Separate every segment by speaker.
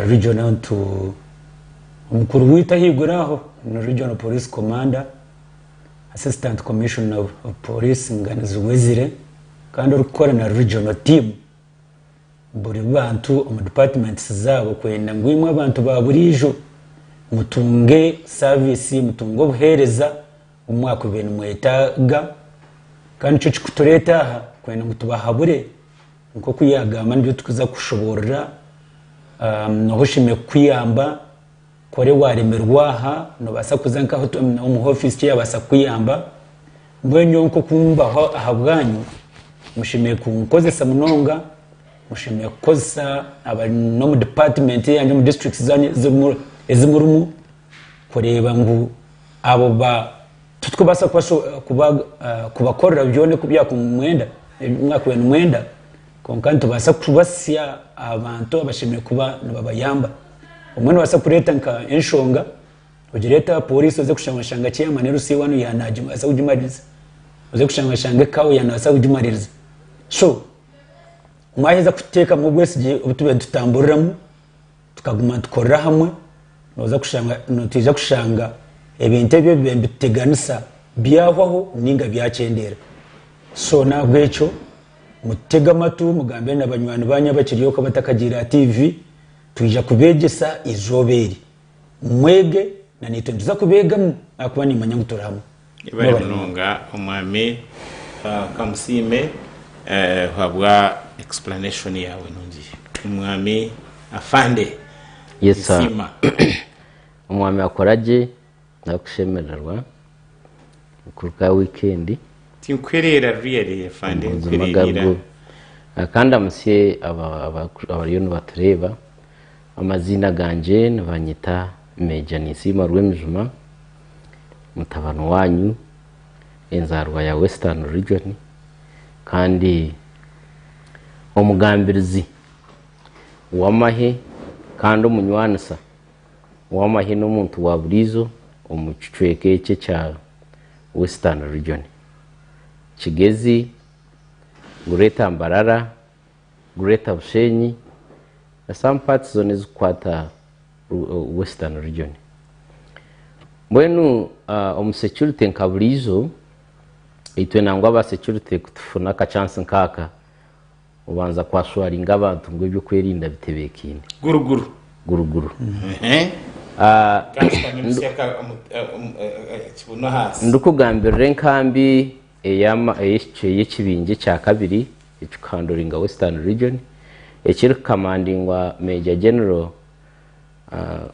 Speaker 1: Regional ntu omukuru waitu ahaiguru aho ni Regional Police Commander, Assistant Commissioner of Police Nganizi Wezire kandi orikukora na Regional Team buri bantu omu departments zaabo kwenda ngu imwe abantu ba buriijo mutunge service, mutunge obuheereza obu mwakubaire nimwetaaga kandi nikyo kirikutureeta aha kwenda ngu tubahabure. Nk'oku yaagamba nibyo turikuza kushoboorora. Noha oshemereire kukuyamba? Kore waaremerwa aha, noobaasa kuza nka omu hofiisi egi yaabaasa kukuyamba. Mbwenu nyowe nk'oku mbaho ahabwanyu, mushemereire kunkozesa munonga, mushemereire kukozesa abari n'omu dipaatimenti yanyu omu disiturikiti zanyu ezi murimu. kureeba ngu abo ba titukubaasa kubakorera byona eku mwakubaire nimwenda kwonka nitubaasa kubatsya aha bantu abashemereire kuba nibabayamba. Obumwe nobaasa kureeta nka enshonga ogireete aha poriisi oze kushanga oshanga chairman LC I ogu yanabaasa kugimaririza. Oze kushanga oshanga Kawe yanabaasa kugimaririza. So mwaheza kuteekamu obwesigye obu tubaire nitutamburiramu. Tukaguma nitukorera hamwe, nooza kushanga nitwija kushanga ebintu ebi ebi nituteganisa byahwaho nainga byakyendeera. So n'ahabw'ekyo mutege amatu mugambire na banywani baanyu abakiri oku abatakagiire aha tiivi, twija kubeegyesa eizooba eri. Mwege, na naitwe nituza kubeegamu ahakuba nimmanya ngu turi hamwe. Ebare munonga
Speaker 2: omwami kamusiime habwa explanation yaawe nungi omwami afande nisiima.
Speaker 3: Omwami akora gye arikushemererwa kuruga aha weekend. Tinkuhereera
Speaker 2: really afande nkuhereerira.
Speaker 3: Kandamutsye abariyo nibatureeba amaziina gangye nibanyeta. Meeja Ninsiima Rwemijuma, mutabani waanyu, enzaarwa ya Western Region kandi omugambirizi w'amahe kandi omunywanisa w'amahe n'omuntu wa buriijo omu kicweka eki ekya Western Region, Kigezi, Greater Mbarara, Greater Bushenyi na some parts zoona ezikukwata Western region. Mbwenu omu security nka buriijo, itwe nangwa aba security kutufuna aka chance nkaaka, obanza ku assuringa abantu ngu ebyokwerinda bitebekeine. Guru guru. Guru guru. Ndikugambirira enkambi. Eyaama ey'ekibingi ekya kabiri ekirikuhanduringa Western Region ekirikukamandingwa Major General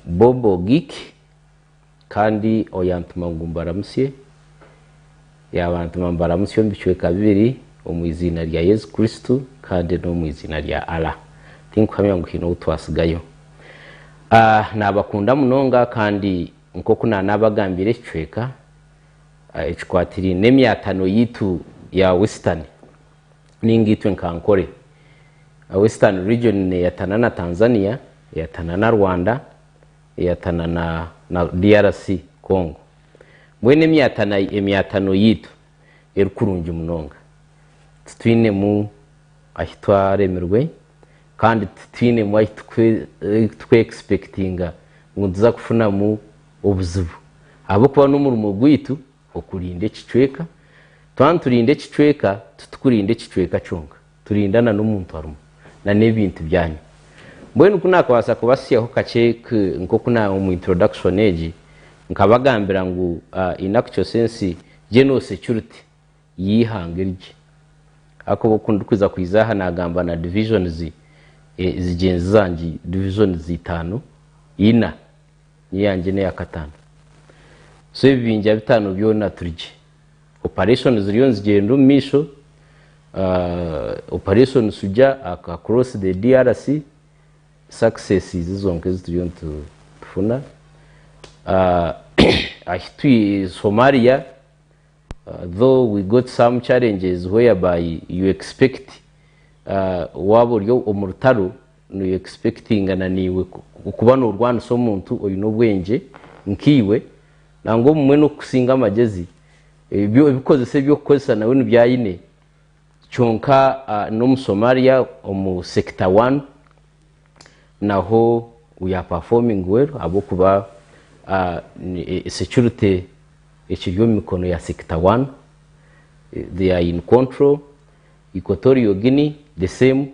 Speaker 3: Bob Ogik kandi oyantuma ngu mbaramutsye, yaabantuma mbaramutsye omu bicweka bibiri omu eiziina rya Yesu Kristo kandi n'omu eiziina rya Allah. Tinkuhamya ngu haine ou twatsigayo. Naabakunda munonga kandi nk'oku naanaabagambiire ekicweka, Ekikwatiraine n'emyatano yaitu ya Western ninga itwe nka Ankole, Western Region neyatana na Tanzania, eyatana na Rwanda, eyatana na DRC, Congo. Mbwenu emyatano yaitu eri kurungi munonga. Titwinemu ahi twaremirwe kandi titwinemu ahi turi ku expectinga ngu nituza kufunamu Obuzibu. Ahabw'okuba n'omurimo gwaitu okurinda ekicweka, twaba niturinda ekicweka, titukurinda ekicweka kyonka, turinda na n'omuntu arimu, na n'ebintu byanyu. Mbwenu ku naakabaasa kubatsyaho kakye nk'oku na omu introduction egi nkabagambira ngu in actual sense General Security y'eihanga erigye. Ahakuba oku ndikwiza kwija aha naagamba na divisions zigyenzi zangye, divisions itaano, ina, Niyo yangye n'eya kataano. So ebibingya bitaano byona turi gye. Operation ziriyo nizigyenda omu maisho. Operation Sujja across the DRC, success izi zonka ezi turiyo nitufuna. Ahi turi Somalia, though we got some challenges whereby you expect waaba ori omu rutaro, Noye expectinga na naiwe okuba norwanisa omuntu oyine obwengye nkaiwe nangwa obumwe nokukusinga amagezi ebyo ebikozesa ebyokukozesa nawe nibyo ayine kyonka nomu somalia omu sector one naho we are performing well ahabwokuba security ekiri omu mikono ya sector one they are in control, equatorial Guinea the same.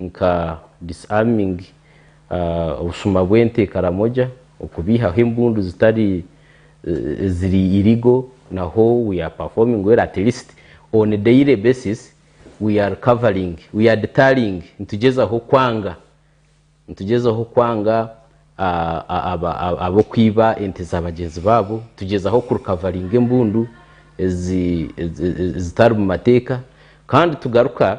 Speaker 3: nka disarming, obushuma bw'ente e Karamoja, okubeihaho embundu zitari eziri illegal naho we are performing well at least on a daily basis we are covering, we are deterring nitugyezaho kwanga nitugyezaho kwanga ab'okwiba ente za bagyenzi baabo, nitugyezaho ku recoveringa embundu ezitari mu mateeka kandi tugaruka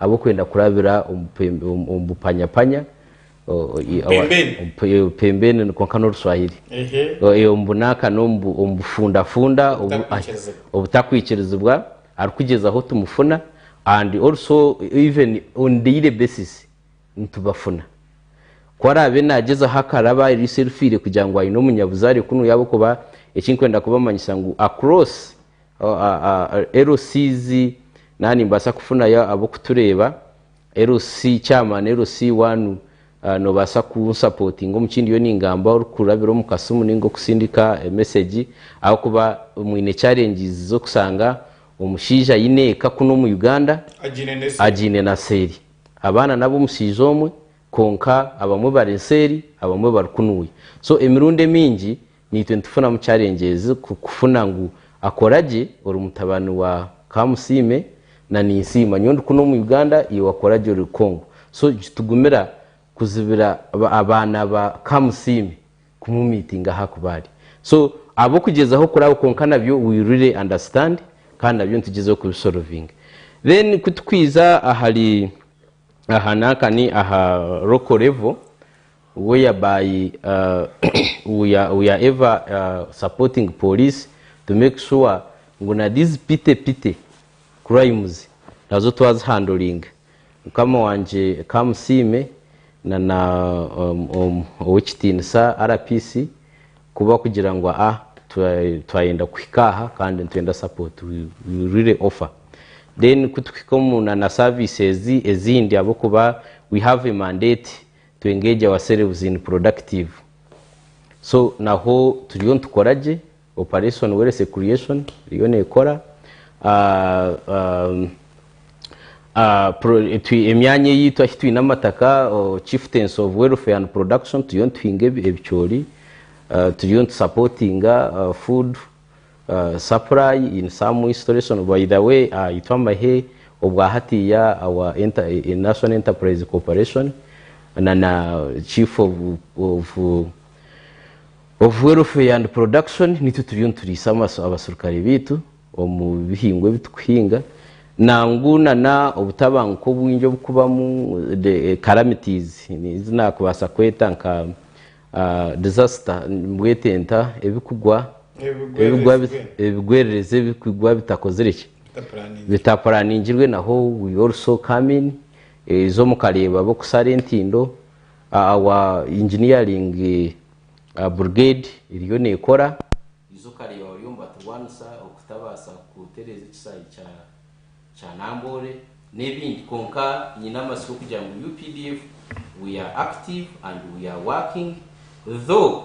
Speaker 3: Ahabw'okwenda kurabira omu bupanyapanya, pembeni, omu bunaaka n'omu bufundafunda obutakwikirizibwa, arikugyezaho tumufuna kandi nitubafuna. Ku araabe naagyezaho akaraba eriisho erifiire kugira ngu aine omunyabuzaare kunu, LCs naha nimbaasa kufunayo ab'okutureeba, LC chairman, LC waanu noobaasa kunsapootinga omu ki ndiyo ningamba orikurabira omu kasimu nainga okusindika emesegi ahabw'okuba mwine challenges z'okushanga omushaija aine eka kunu omu Uganda agiine na seeri. Abaana n'ab'omushaija omwe kwonka abamwe bari nseeri abamwe bari kunuuya. So emirundi emingi Naitwe nitufunamu challenges kukufuna ngu akoragye ori mutabani wa kamusiime na ninsiima nyowe ndi kunu omu Uganda iwe wakoragye ori Congo so nikitugumira kuzibira abaana ba kamusiime kumumitinga ahakuba ari so abokugyezaho kuraba kwonka nabyo we really understand kandi nabyo nitugyezaho kubisolovinga then kutukwiiza ahari aha nankani aha local level Where ya by we are we are ever supporting police to make sure ngu na these pity pity crimes nazo twazihandling mukama wangye kamusiime na na owekitiinisa RPC kuba kugira ngu a twayenda kuhika aha kandi nitwenda support we really offer then kutukuhika omu na na services ezindi ahabwokuba we have a mandate To engage ourselves in productive so naho turiyo nitukora gye operation werese creation eriyo nekora emyanya eyitu ahi twine amataka chieftaincy of welfare and production turiyo nituhinga ebicoori turiyo nitu supportinga food Sapurayi in some installation by the way ah, itwe amahe obwa hatiya our enter, eh, National Enterprise Corporation na na Chief of, of of welfare and production nitwe turiyo nituriisa amasu abaserukare baitu omu bihingwa ebi tukuhinga nangu na na obutabanguko obwingi obukubamu the eh, calamities ezi nakubaasa kweta nka Ahh disaster mbwete nta ebikugwa ebigwa ebigwererezi ebikugwa bitakozire ki bitapuraningirwe naho we also come in izo mukareeba abokusara entindo our engineering brigade eriyo nekora izo okareeba bariyo nibaturwanisa okutabasa kutereeza ekisaayi kya kya Namboole n'ebindi kwonka nyine amatsiko kugira ngu updf we are active and we are working though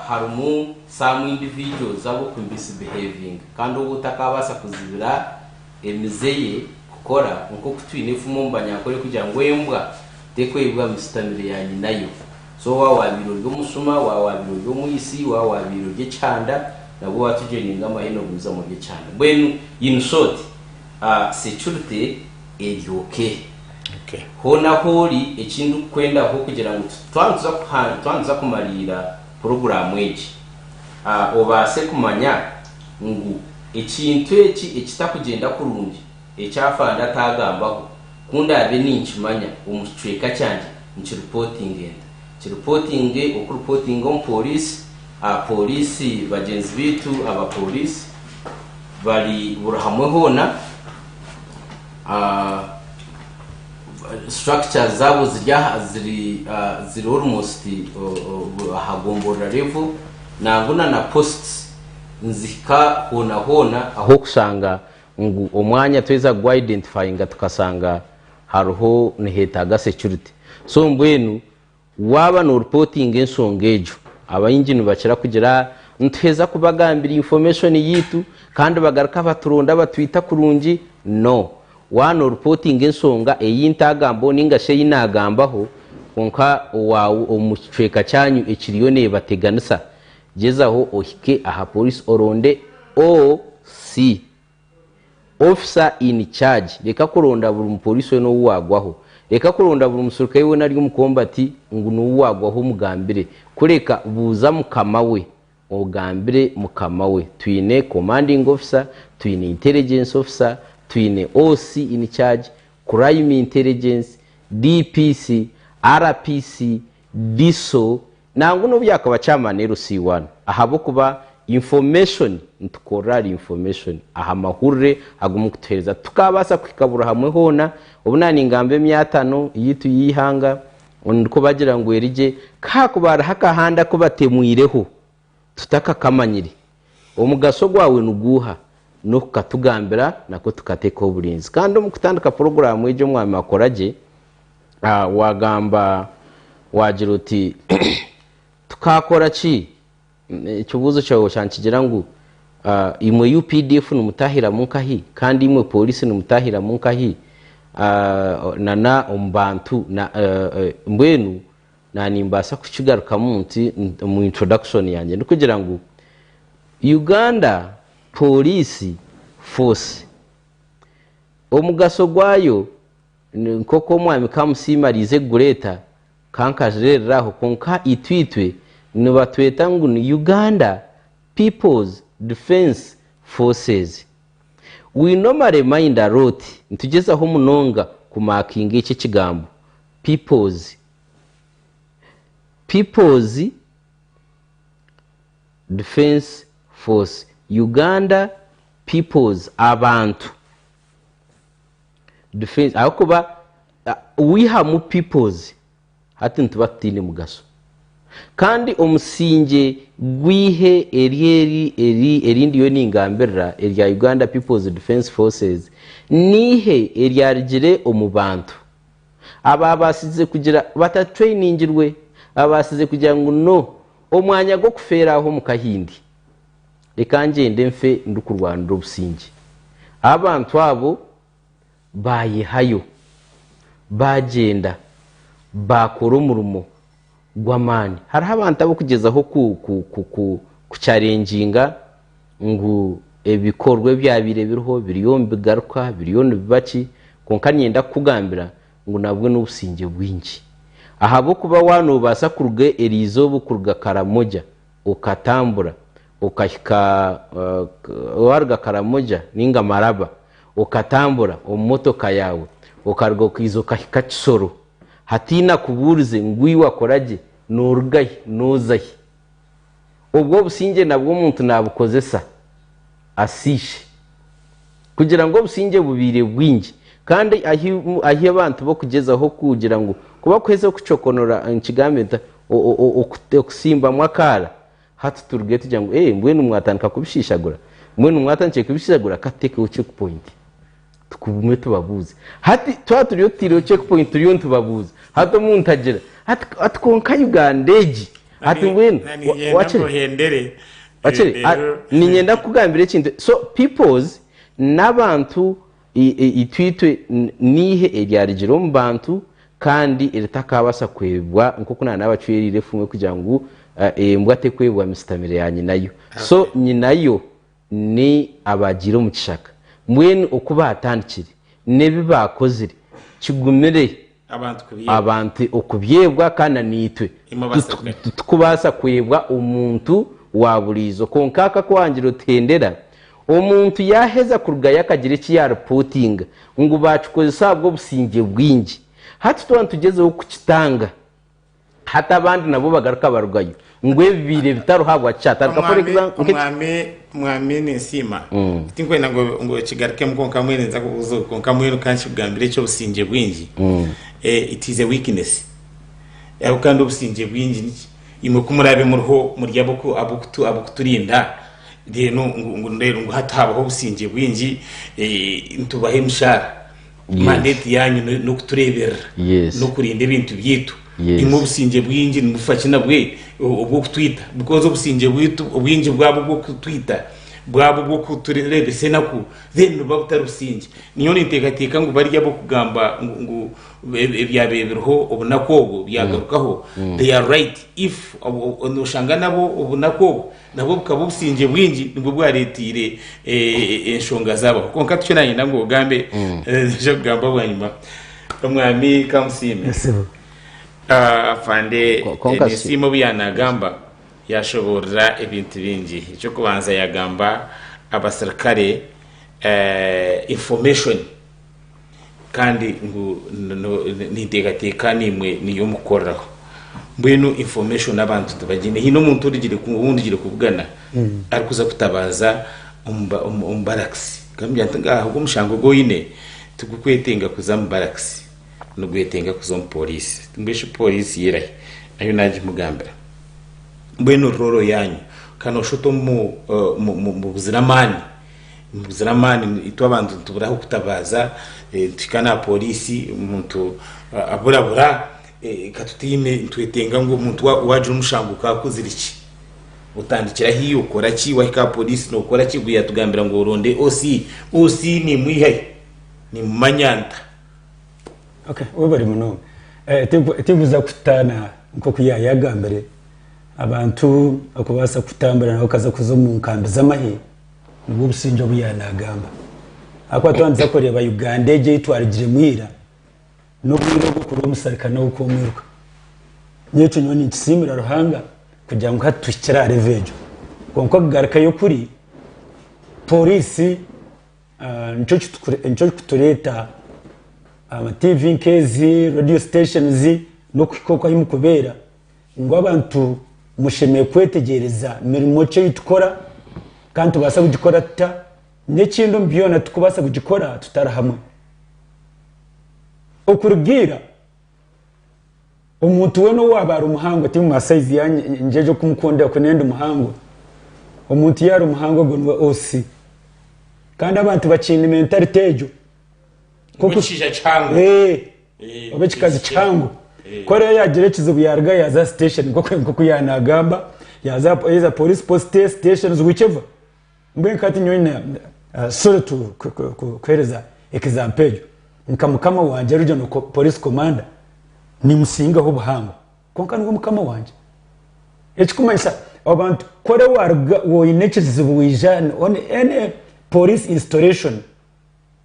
Speaker 3: harimu some individuals ab'oku misbehavinga kandi ou otakaabaasa kuzibira emize ye kukora nk'oku twine efumu omu banyankole kugira ngu embwa tekweibwa misitamire ya nyinayo. So waaba waabaire ori omusuma, waaba waabaire ori omwitsi, waaba waabaire ori ekihanda, nabwo waatugyeninga amahene obwaizamu ori ekihanda. Mbwenu in short, security eri okay. Hoona ahu ori, eki ndikukwendaho kugira ngu twaba nituza kuhand, twaba nituza kumariira puroguraamu egi, obaase kumanya ngu ekintu eki ekitakugyenda kurungi, Eki afande ataagambaho, ku ndaabe ninkimanya omu kicweka kyangye nikiripootinge nta? Kiripootinge oku kuripootinga omu pooriisi, aha pooriisi bagyenzi baitu abapooriisi bari buri hamwe hoona, structures zaabo ziri aha ziri ziri almost aha gomborora level nangwa na na posts nizihika hoona hoona ahu orikushanga ngu omwanya tweza kugwa identifyinga tukasanga hariho nihetaaga security so mbwenu waaba no reportinga ensonga egyo abaingi nibakira kugira ah nituheza kubagambira information yaitu kandi bagaruka baturonda batwita kurungi no waaba no reportinga ensonga eyi ntaagambaho ninga shi eyi naagambaho kwonka owaawe omu kicweeka kyaanyu ekiriyo neebateganisa Gyezaho ohike aha Poliisi oronde OC, Officer in Charge. Reka kuronda buri mupoliisi weena ou waagwaho. Reka kuronda buri muserukare weena ari omu kombati ngu niwe waagwaho omugambire. Kureka, buuza mukama we. Ogambire mukama we. Twine Commanding Officer, twine Intelligence Officer, twine OC in Charge, Crime Intelligence, DPC, RPC, DISO, Nangwa nobu yakaba chairman LC I ahabwokuba information nitukorera ahari information aha mahurire agu mukutuhereza titukabaasa kuhika buri hamwe hoona obu na ningamba emyatano yaitu y'eihanga ndikubagira ngu eri gye ku hakuba hariho akahanda aku batemwireho tutakakamanyire Omugasho gwawe ni guuha? N'oku katugambira nakwo tukateekaho oburinzi. Kandi omu kutandika puroguraamu egi Omwami akora gye, waagamba waagira oti, Tukaakora ki? Ekibuuzo kyawe osha nikigira ngu, Imwe updf nimutaahiramu nkahi? Kandi imwe pooriisi nimutaahiramu nkahi? Nana omu bantu, mbwenu Na nimbaasa kukigarukamu nti omu introduction yangye ndi kugira ngu Uganda Police Force omugaso gwayo nk'oku Omwami Kamusiime ariize kugureeta ka nkagireerera aho kwonka itwitwe nibatweta ngu ni Uganda People's Defence Forces. We normally mind a lot, nitugyezaho munonga ku markinga eki ekigambo People's People's Defence Force, Uganda People's, abantu, Defence ahabw'okuba waihamu People's hati nituba tutaine mugasho. Kandi omusingye gw'eihe eryeri eri eri ndiyo ningambirira erya Uganda People's Defence Forces, neihe eryarugire omu bantu. abaabaasize kugira batatweiningirwe baabaasize kugira ngu no omwanya gw'okufeera aho omu kahindi. Reka ngyende nfe ndikurwanira obusingye. Abantu abo baayehayo, baagyenda, baakora omurimo. gw'amaani. Hariho abantu ab'okugyezaho kukyarengyinga ngu ebikorwa ebyabaire biriho biriyo nibigaruka, biriyo nibiba ki, kwonka niinyenda kukugambira ngu nabwo n'obusingye bwingi. Ahabw'okuba waaba noobaasa kuruga erizooba kuruga Karamoja okatambura okahika, waaruga Karamoja nainga Maraba okatambura omu motoka yaawe okaruga okaija okahika Kisoro, Hatiine akubuurize ngu iwe akora gye, nooruga hi, nooza hi. Obwo obusingye nabwo omuntu naabukozesa asiishe. Kugira ngu obusingye bubaire bwingi, kandi ahi ahi abantu b'okugyezaho kugira ngu kubakuheza okucokonora, nikigambe nta, o, o, o, okusimbamu akaara, Hati turugeyo tugira ngu, Eeh, mbwenu mwatandika kubishiishagura? Mbwenu mwatandikire kubishiishagura? Ka tuteekeho checkpoint tugume tubabuuze. Hati twaba turiyo tutaireho checkpoint turiyo nitubabuuza, hati omuntu agira ati, Ati kwonka Uganda egi! Ati mbwenu, wa, Niinyenda wakire? nkuhendere. Wakire? Ah, Reero, niinyenda kukugambira ekintu. So, peoples n'abantu Itwitwe n'eihe eryarigire omu bantu kandi eritakaabasa kwebwa nk'oku naana abacweriire efuumwe kugira ngu embwa tekwebwa misitamiro ya nyinayo. So nyinayo ni abaagiire omu kishaka. Mbwenu oku baatandikire n'ebi baakozire kigumire. abantu okubyebwa kandi naitwe titukubaasa kwebwa omuntu waaburiijo. Kwonka aka aku waagira otuhendera, omuntu yaaheza kurugayo akagira eki yaaripootinga ngu baakikozesa ahabw'obusingye bwingi, hati twaba nitugyezaho kukitanga. Hati abandi nabo bagaruka barugayo ngu ebi biire bitariho ahabwaki atarika for example nka eki Omwami mwami
Speaker 2: ninsiima tinkwenda ngu ngu kigarukemu kwonka mbwenu ninza kubuuza ogu kwonka mbwenu ka nkikugambire eky'obusingye bwingi eh, it is a weakness ahabu kandi obusingye bwingi niki imwe ku muraabe muriho muri ab'oku ab'okutu ab'okuturinda then ngu ngu mbwenu ngu hati haabaho obusingye bwingi eh, nitubaha emishaara Yes. mandate yanyu no- n'okutureeberera Yes. n'okurinda ebintu byaitu Yes. imwe obusingye bwingi nimufa ki nabwe o- obw'okutwita because obusingye bwitu obwingi bwaba obw'okutwita bwaba obw'okutureebesa enaku then buba butari busingye nyowe ninteekateeka ngu bari ab'okugamba ngu ngu eb- ebyabaire biriho obunaku obwo byagarukaho they are right if obu- obu- nooshanga nabo obunaku obwo Nabwo bukaba obusingye bwingi nibwo bwareeteire eh, enshonga zaabaho kwonka tikyo nayenda ngu ogambe mm. eh, nija kugamba bwanyima omwami kamusiime ah, afande eh, nesiima obu yanagamba yashoboorora ebintu bingi ekyokubanza yagamba abasirikare information Kandi ngu no- no- ninteekateeka niimwe niyo mukukoreraho mbwenu information abantu tibagiine haine omuntu origire ku- ou ndigire kubugana arikuza kutabaaza omu ba- omu- omu barakisi nkamubwira nti ngaaha ogu omushango ogu oine tigukwetenga kuza omu barakisi nigwetenga kuza omu pooriisi ngu eshwi pooriisi y'erahi ahu naagimugambira mbwenu rrooro yaanyu kandi nooshusha oti omu- mu- mu- mu buzira amaani Nibuzire amaani itwe abantu nitubura ah'okutabaaza, nituhika n'aha pooriisi omuntu aburabura, ka tutaine, nitwetenga ngu omuntu waagira omushango ka akozire ki? Otandikira ahi? Okora ki? Waahika aha pooriisi nookora ki? Obwo yaatugambira ngu oronde OC. OC niimwiha hi? Niimumanya nta?
Speaker 1: Okay, webare munonga. Tikuza kutaana nk'oku yaayagambire, abantu okubaasa kutambura nabo okaza kuza omu nkambi z'amahe, Nibwo busingye obu yaba nagamba. Ahakuba twabandiza kureeba Uganda egi ei twarugiremu ira, n'obwire obu orikuba omusirikare nawe okaba omwiruka. Nyowe ekyo nyowe ninkisiimira Ruhanga kugira ngu hati tuhikire aha revo egyo. Kwonka okugarukayo kuri, pooriisi nikyo kirikutureeta aha matiivi nk'ezi, reediyo siteshonizi, n'okuhika oku ahu murikubeera. Ngu abantu mushemereire kwetegyereza mirimo ki ei tukora, kandi nitubaasa kugikora tuta, n'ekindi omu byona tikubaasa kugikora tutari hamwe. Okuruga ira, omuntu weena ou waaba ari muhango, tihaine masaizi ei ndingyeje kumukundira ku ndi muhango, omuntu yaaba ari muhango ogwo niwe OC. Kandi abantu bakiine mentality egyo. Niwe
Speaker 2: kishushani kihango. oba
Speaker 1: ekikazi kihango ku ariyo yaagira ekizibu yaaruga yaaza aha station nk'oku yaaba naagamba yaaza either police post stations whichever mbwenu hati nyowe na ah, sorry to ku- ku- ku- kuhereza example egyo nka mukama wangye arugye no ko- police commander nimusingaho obuhango kwonka niwe mukama wangye ekikumanyisa abantu kore waruga woine ekizibu waija on any police installation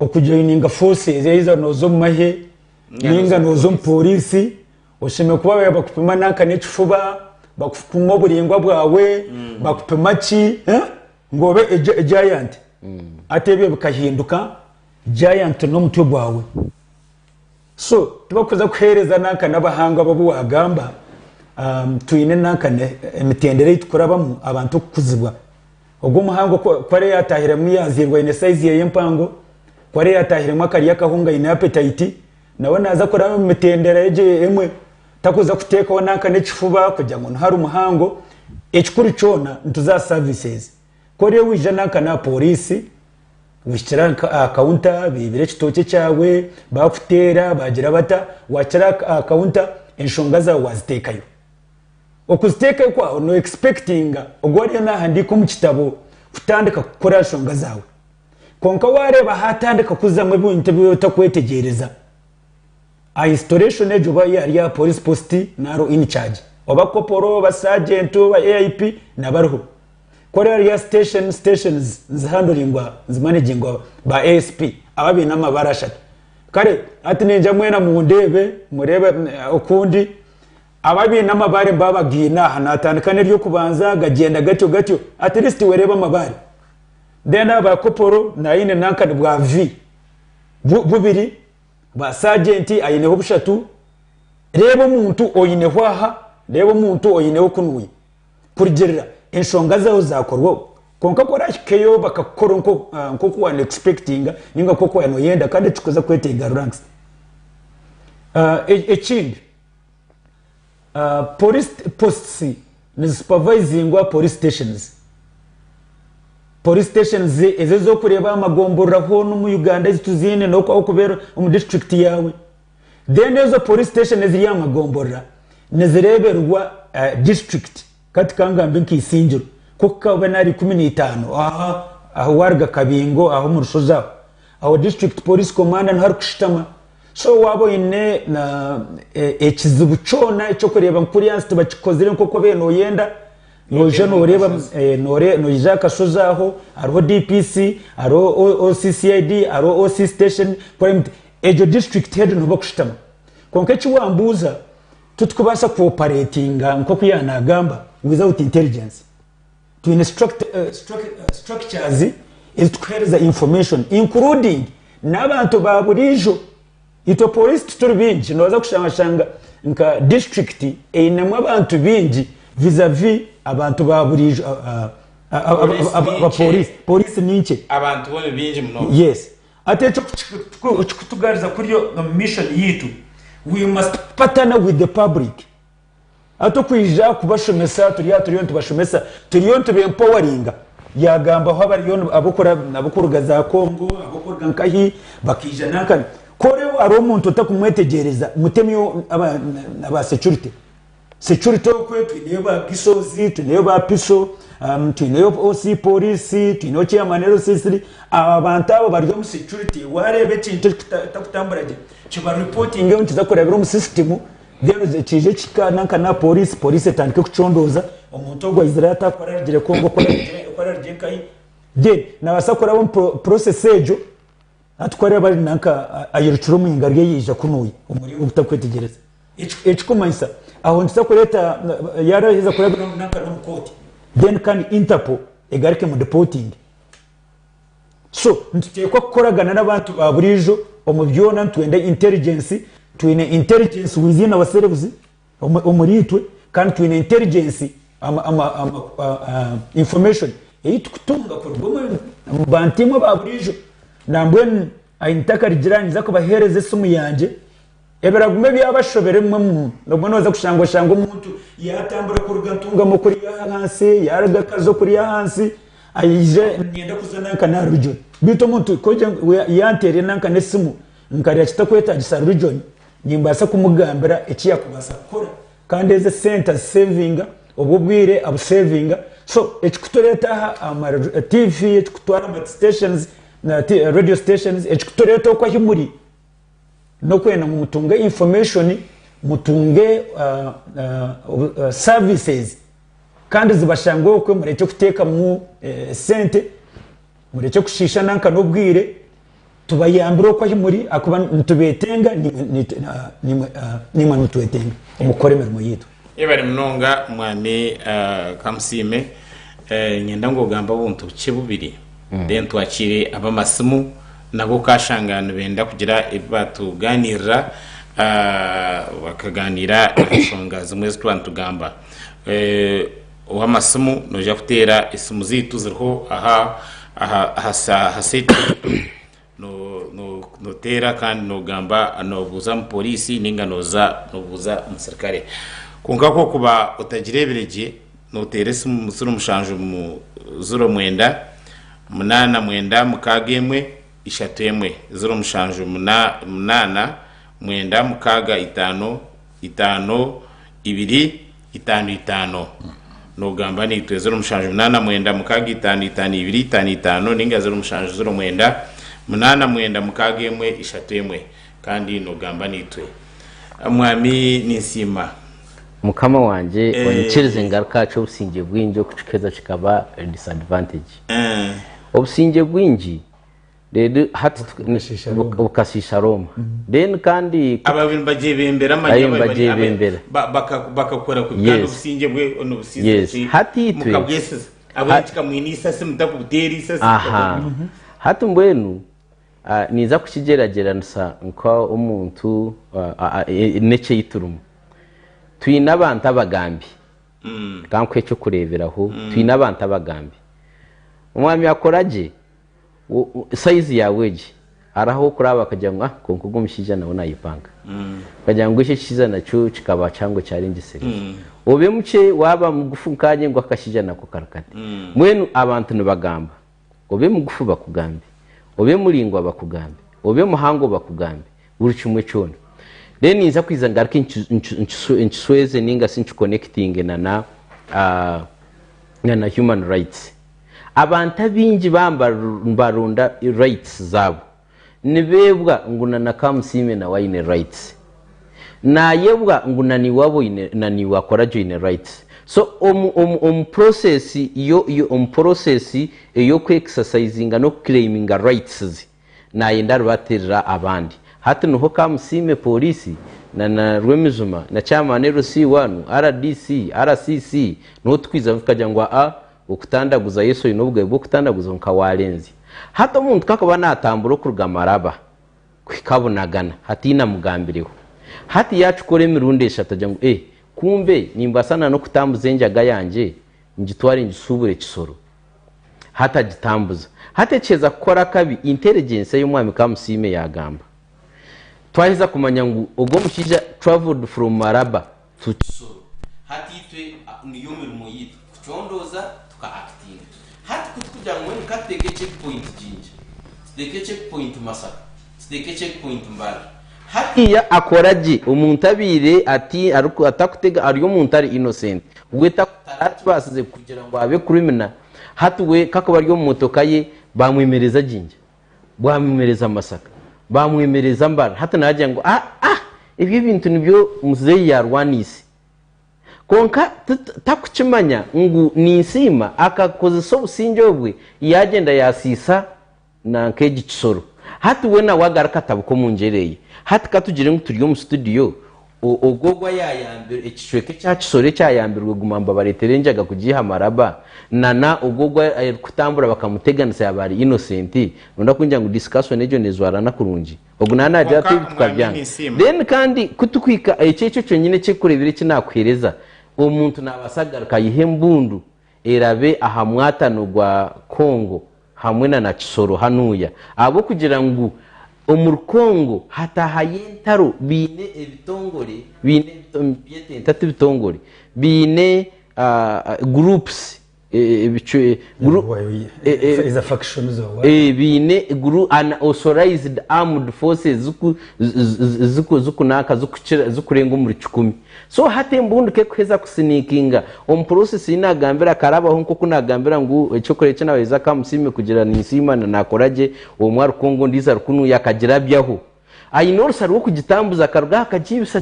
Speaker 1: Okujoininga forces either noza omu mahe ninga noza omu police oshemeriire kuba babaire bakupima nanka nekifuba bakupima oburingwa bwawe bakupima ki ngu obe giant hati ebyo bikahinduka giant nomutwe gwawe. So tibakuza kuheereza nanka n'abahangwa babu wagamba twine nanka emitendera eyi tukurabamu abantu okukuzibwa. Ogu omuhangwa ku ari yatahiremu yaziirwa ayine sayizi yeye empango, ku ari yatahiremu akarya akahunga ayine apetayiti, nawe naza kuraba omu mitendera egyo emwe. Takuza kutekaho nanka n'ekifuba kugira ngu niho ari muhango. Ekikuru kyona nituza aha savisezi. Ku oriyo waija nanka n'aha pooriisi, wahikira aha kawunta beibire ekitookye kyawe, baakuteera, baagira bata, waahikira aha kawunta enshonga zaawe waaziteekayo. Okuziteekayo kwaawe nooyekispekitinga ogwo ariyo naahandiika omu kitabo kutandika kukora aha nshonga zaawe. Kwonka waareeba haatandika kuzamu ebintu ebi otakwetegyereza. Aha installation egyo oba ari aha Police Post nari in charge oba Corporal oba Sergeant oba AIP naba ariho. Ku ari ahari ya station, stations nizi handlingwa, nizi managingwa ba ASP aba baine amabara ashatu. Kare hati ningya mwena mundeebe, mureebe oku ndi. Aba abaine amabare mba abagaine aha, natandika n'eryokubanza gagyenda gatyo gatyo at least wereeba amabare. Then aba Corporal naine nanka ni bwa V. bubiri bwa sagyenti aineho bushatu, reeba omuntu oineho aha, reeba omuntu oineho kunuya, kurugirira enshonga zaawe zaakorwaho kwonka ku orahikeyo bakakukora nk'oku waaba noyekispekitinga ninga nk'oku waaba noyenda kandi tikikuza kweteega ranks. Ekindi. Police posts nizisupavaizingwa Police stations. Police stations ezo ez'okureeba aha magomborora hoona omu Uganda ezi tuziine n'oku orikuba ori omu district yaawe. Then ezo Police station eziri aha magomborora nizireeberwa district. Ka tikangambe nka Isingiro, ku kaba n'ari ikumi na itaano aho ahu waruga Kabingo aho omu rushozi aho, aho District Police Commander niho arikushutama. So waaba oine na ekizibu kyona eky'okureeba ngu kuriya hansi tibakikozire nk'oku obaire noyenda, noija noreeba, noija aha kashozi aho, hariho DPC, hariho OCCID, hariho OC Station, Crime, egyo District Head niho bakushutama. Kwonka eki wambuuza. Titukubaasa ku operatinga nk'oku yaaba nagamba without intelligence. Twine structures ezi tukuhereza information including n'abantu ba buriijo. Itwe police tituri baingi nobaasa kushanga shanga nka district einemu abantu baingi vis a vis abantu ba buriijo aba police. Police ni nkye. Abantu bo ni baingi
Speaker 2: munonga. Yes. Hati eki
Speaker 1: kikutugariza kurya omu mission yaitu. We must partner with the public. Hati okwija kubashomesa turi aha turiyo nitubashomesa, turiyo nituba empoweringa. Yaagambaho abariyo ab'okuruga za Congo, ab'okuruga nkahi, bakaija nanka. Ku hariho omuntu otakumwetegyereza, mutemu aba securite. Securite okwe twineyo ba bisos twineyo ba piso twineyo OC porisi twineyo chairman LC3 abo abantu abo bari omu securite wareeba ekintu ekitakutambura gye kiba reportinge nikiza kurabira omu system then kiije kikaana nka na porisi porisi etandike kucondooza omuntu ogu ayizire ata ku ararugire Congo ku ararugire nkahi then nabasa kuraba omu process egyo Hati ku araabe ari nanka ayerukire omu ngaro ye yaija kunuya omuriro ogutakwetegyereza, ekikumanyisa aho nituza kureeta yaaraheza kurabiramu nanka n'omu kooti then kandi Interpol egaruke emudipotinge. So nituteekwa kukoragana n'abantu ba buriijo omu byona nitwenda intelligence, twine intelligence within ourselves. omuriitwe kandi twine intelligence information eyi tukutunga kuruga omu bantu imwe ba buriijo nambwenu I need akarigira ninza kubahereza esimu yangye ebiraguma ebyabashobera ebimwe mu nabwo noza kushanga oshanga omuntu yatambura kuruga Ntungamo kuriya ahansi yaruga Kazo kuriya ahansi ayize nayenda kuza nanka naha region beitu omuntu kwogya ngu yanterera nanka nesimu nkareba kitakwetagisa region Nimbaasa kumugambira eki yaakubaasa kukora kandi ezi esente aziseevinga, obwo obwire abuseevinga. So ekikutureeta aha aha tiivi, ekikutwara aha masiteshonizi, reediyo siteshonizi, ekikutureeta okwo ahu muri, n'okwenda ngu mutunge infomeeshoni, mutunge saaviisizi kandi zibashange okwo, murekye kuteekamu sente. Murekye kushiisha nanka n'obwire, tubayambire oku ahi muri ahakuba nitubetenga naimwe naimwe nimutwetenga omu kukora emirimo yaitu. Yebare munonga
Speaker 2: mwami Kamusiime. Niinyenda ngu ogambe obuntu bukye bubiri then twakiire ab'amasimu nabo okashanga nibenda kugira ebi baatugaaniirira bakaganiira aha nshonga zimwe ezi twaba nitugamba. Ow'amasimu noija kuteera esimu zaitu ziriho aha aha seti noteera kandi nogamba nobuuza omu poriisi ninga noza nobuuza omusirikare kwonka ku okuba otagireebire gye noteera esimu ziro mushanju ziro mwenda munaana mwenda mukaaga emwe ishatu emwe ziro mushanju munaana mwenda mukaaga itaano. Itaano, ibiri, itaano, itaano. Nogamba naitwe ziro mushanju munana mwenda mukaga itaano itaano ibiri itaano itaano ninga ziro mushanju ziro mwenda munana mwenda mukaga emwe ishatu emwe kandi nogamba naitwe mwami ninsiima. Mukama
Speaker 3: wangye onyikirize ngaruke aha ky'obusingye bwingi okukikeza kikaba disadvantage. Obusingye bwingi. bukashiisha Rooma. Abaabaire nibagyebembera
Speaker 2: amanya bari bakakora kubi kandi obusingye bwe onubusinzira ki?
Speaker 3: Mukabwesiza. Abwenu
Speaker 2: tikamwine isasi, mutakubuteera isasi, mukakora muta?
Speaker 3: Hati mbwenu ninza kukigyeragyeranisa nk'omuntu n'eki ei turimu. Twine abantu abagambi. Kankuhe eky'okureeberaho, twine abantu abagambi. Omwami akora gye. Sayizi yaawe egi. Hariho ah'okuraba bakagira ngu, ah kwonka ogu omushaija nawe naayepanga. Bakagira ngu eki ekikiza nakyo kikaba kihango kyarengyesere. Obe mukye, waaba mugufu nkaanye ngu akashaija nako kari kati. Mbwenu abantu nibagamba. Obe mugufu bakugambe. Obe muraingwa bakugambe. Obe muhango bakugambe. Buri kimwe kyona. Reero ninza kwija ngaruke nkisweeze nainga shi nkikonekitinge na Human Rights. Abantu abaingi baaba nibarunda rights zaabo, nibeebwa ngu na Nakamusiime nawe aine rights. Naayebwa ngu na naiwe aba oine, na naiwe akora gye oine rights. So omu, omu, omu process yo, yo, omu process ey'okwekisasayizinga n'okuclaiminga rights ze, Naayenda aribatiirira abandi. Hati niho Kamusiime, Pooriisi, na na Rwemijuma, na Kyamaani LC waanu, RDC, RCC, niho tukwiija ngu tukagira ngu aa, okutandaguza Yesu oine obugabe bw'okutandaguza kwonka waarenzya. Hati omuntu ku akuba naatambura okuruga Maraba kuhika Bunagana hatiine amugambireho. Hati yaakikora emirundi eshatu agira ngu ee, kumbe nimbaasa na n'okutambuza enjaga yangye ngitware ngisuubure Kisoro. hati agitambuza. Hati ekiheza kukora akabi, intelligence ey'omwami Kamusiime yagamba. Twaheza kumanya ngu ogu omushaija travelled from Maraba to Kisoro. Hati itwe niyo mirimo yaitu, kucondooza tuka actinga. Hati ku turikugira ngu mbwenu ka tuteeke checkpoint Jinja, tuteeke checkpoint Masaka, tuteeke checkpoint Mbale, Hariya akora gye omuntu abaire atakutega ari omuntu ari innocent we tarakibasize kugira ngu abe criminal hati we kakuba ari omu motoka ye bamwemereza Jinja bamwemereza Masaka bamwemereza Mbale hati nagira ngu aah ebyo ebintu nibyo muzeyi yarwaniise kwonka takukimanya ngu ninsiima akakozesa obusingye obwe yagenda yasiisa Nanka egi kisoro. Hati we nawe agaruke atabuke omu ngyera eye. Hati ka tugire ngu turi omu situdiyo, o, ogwo ogu ayayambirwe, ekicweka ekya kisoro ekyayambirwe guma mba bareetere enjaga kugiiha amaraba, na, na ogwo ogu arikutambura bakamuteganisa yaaba ari innocent, nooronda kungira ngu discussion egyo neezwarana kurungi? Ogu naaba naagira ati, Kwonka, ebi Omwaami, tukabyanga. ninsiima. Then kandi ku turikuhika, ekyo, ekyo kyonyine ekirikureebera eki naakuheereza, omuntu naabaasa kugaruka ayihe embundu erabe aha mwatano gwa Congo hamwe na na Kisoro hanuuya ahabw'okugira ngu omuri Congo hataahayo entaro baine ebitongore baine nibyete nta ti bitongore baine groups
Speaker 1: ebicwe baine
Speaker 3: authorized armed forces zikunaaka zikurenga omuri kikumi. So hati embundu ku erikuheza kusiniikinga, omupuroosesi ei naagambira akarabaho nk'oku naagambira ngu, Ekyokurya eki naahweza akaba musiime kugira ninsiima na naakora gye, omwe arukwonga ondiijo arukunuya akagirabyaho. Aine orusa rw'okugitambuza akaruga aha akagiibisa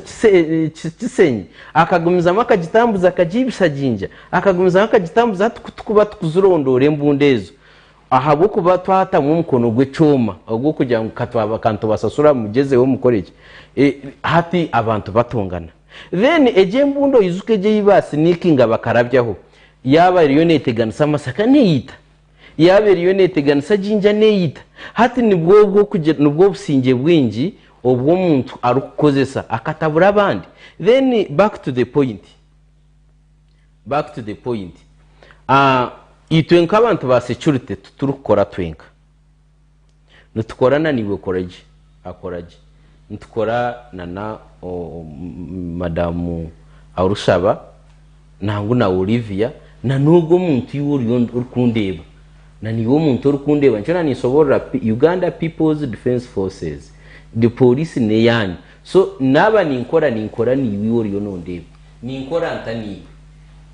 Speaker 3: kisenyi, akagumizamu akagitambuza akagiibisa jinja, akagumizamu akagitambuza hati ku turikuba tukuzirondoora embundu ezo. Ahabw'okuba twatamu omukono gw'ekyoma ogw'okugira ngu ka nitubasasura mugyezeho mukore ki, hati abantu batongana. Then egi embundu oyijuke egi ei ba sinikinga bakarabyaho, yaaba eriyo neeteganisa amasaka neeyita, yaaba eriyo neeteganisa ginger neeyita. Hati nibwo obw'okugira nibwo obusingye bwingi obu omuntu arikukozesa akatabura abandi. Then back to the point. Back to the point itwe nkabantu ba security titurikukora twenka nitukora na naiwe koragye akoragye nitukora na na madamu arushaba nangu na Olivia na nogu omuntu iwe oriyo orikundeba na naiwe omuntu orikundeba nikyo na ninsoborora Uganda people's defense forces the police neyanyu so naba ninkora ninkora naiwe iwe oriyo nondeba Ninkora nta naitwe?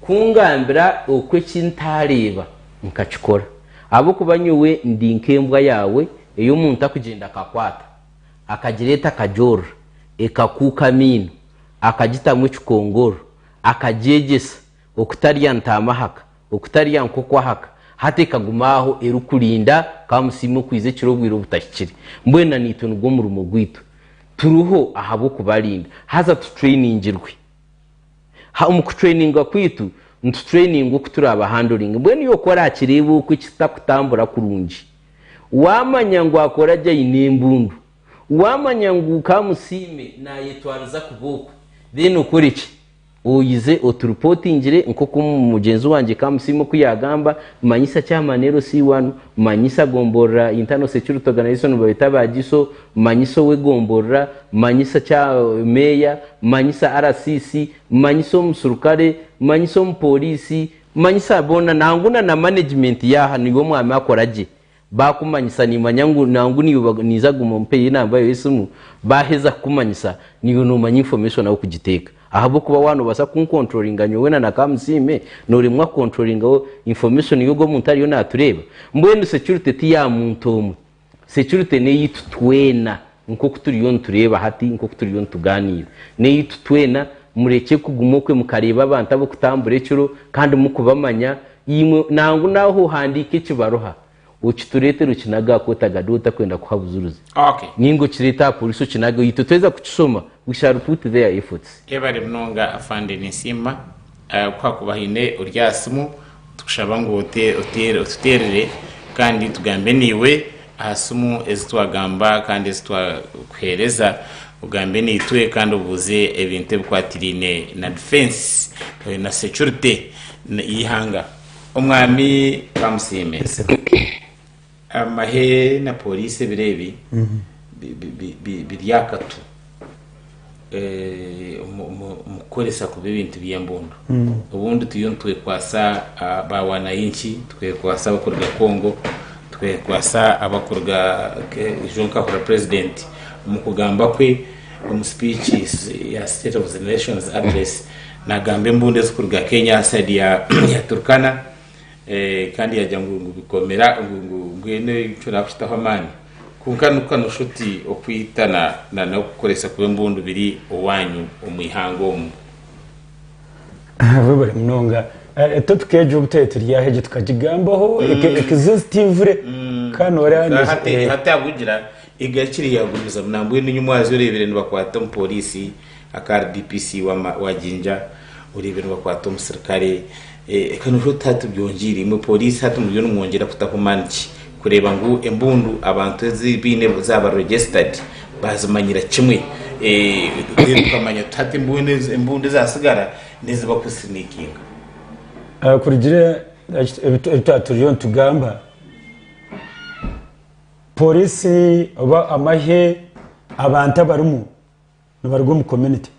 Speaker 3: Ku ngambira oku eki ntaareeba nkakikora, ahabw'okuba nyowe ndi nk'embwa yaawe ei omuntu akugyenda akakwata, akagireeta akagyorora, ekakuuka amaino, akagitamu ekikongoro, akagyegyesa okutarya ntaama haka. Okutarya nk'okwahaka, hati ekaguma aho erikurinda ka musiime okuiza ekiro obwire obutahikire. Mbwenu na naitwe nigwo murimo gwaitu. Turiho ahabw'okubarinda, haza tutrainingirwe. Ha, omu kutraininga kwaitu, nitutrainingwa oku turaaba handling. Mbwenu iwe ku oraakireeba oku ekitakutambura kurungi, waamanya ngu akora gye aine embundu, waamanya ngu ka musiime naayetwariza kuba oku, then okore ki? Oyize oturipotingire nk'oku mugyenzi wangye Kamusiime oku yaagamba, manyisa kyama NLC one, manyisa gomborora Internal Security Organization babeeta ba GISO, manyisa ow'egomborora, manyisa kya Meeya, manyisa RCC, manyisa omusurukare, manyisa omupooriisi, manyisa boona nangwa na na management yaaha niiwe omwami akora gye Baakumanyisa niimanya ngu nangu niiwe niija guma ompe yo enamba yaawe y'esimu. Baaheza kukumanyisa, niiwe noomanya information ahu kugiteeka. Ahabw'okuba waaba noobaasa kunkonturoringa nyowe na na Kamusiime, nooremwa kukonturoringa information y'ogu omuntu ariyo naatureeba? Mbwenu security ti ya muntu omwe. Security n'eyaitu twena. Nk'oku turiyo nitureeba hati, nk'oku turiyo nitugaaniira, n'eitu twena, murekye kuguma okwe mukareeba abantu ab'okutambura ekiro kandi mukubamanya, imwe, nangwa nawe ohandiike ekibaruha okitureetere okinage aha Kooti Agade otakwenda kuha bujuruzi, nainga
Speaker 2: okireete aha
Speaker 3: Pooriisi okinage, itwe tweza kukishoma, we shall put their efforts. Yebare munonga
Speaker 2: Afande ninsiima. Ku haakuba haine ori aha simu, nitukushaba ngu otuteerere kandi tugambe naiwe aha simu ezi twagamba kandi ezi twakuheereza. Ogambe naitwe kandi obuuze ebintu ebikwatiraine na difensi na securite y'eihanga. Omwami amusiime. Amahe na Pooriisi ebiro ebi biri aha katu omu kukoresa kubi ebintu by'embundu. Obundi turiyo nitwekwatsa ba wanayinki, twekwatsa abarikuruga Congo, twekwatsa abarikuruga ejo nkahurira purezidenti omu kugamba kwe omu sipiiki ya State of the Nation's Address naagamba embundu ezirikuruga Kenya, saidi ya Turkana, Eh, kandi yagira ngu ngu bikomera ngu ngu mbwenu ekyo nakushitaho amaani kwonka nokuka nosha oti okwita na na n'okukoresa kuba embundu biri owanyu omu ihanga omu
Speaker 1: buri munonga Eh, topic egyo obuteturyaho egyo tukagigambaho eke- ekiza ezitivure kandi noreeba Za ngu- hati eh, hati
Speaker 2: ahabw'okugira egarikire yagumizamu nambwenu nyowe mwaza oreebire nibakwata omu poriisi Aka RDPC wa Jinja oreebe nibakwata omusirikare eka noshusha oti hati byongiire imwe police hati muriyo nimwongyera kutaho maani ki kureeba ngu embundu abantu ezi baine zaaba registered bazimanyira kimwe then tukamanya tuti hati embundu ezatsigara nezi bakusinikinga.
Speaker 1: Kurugiirire ebi twaba turiyo nitugamba police oba amahe abantu abarimu Nibaruga omu community.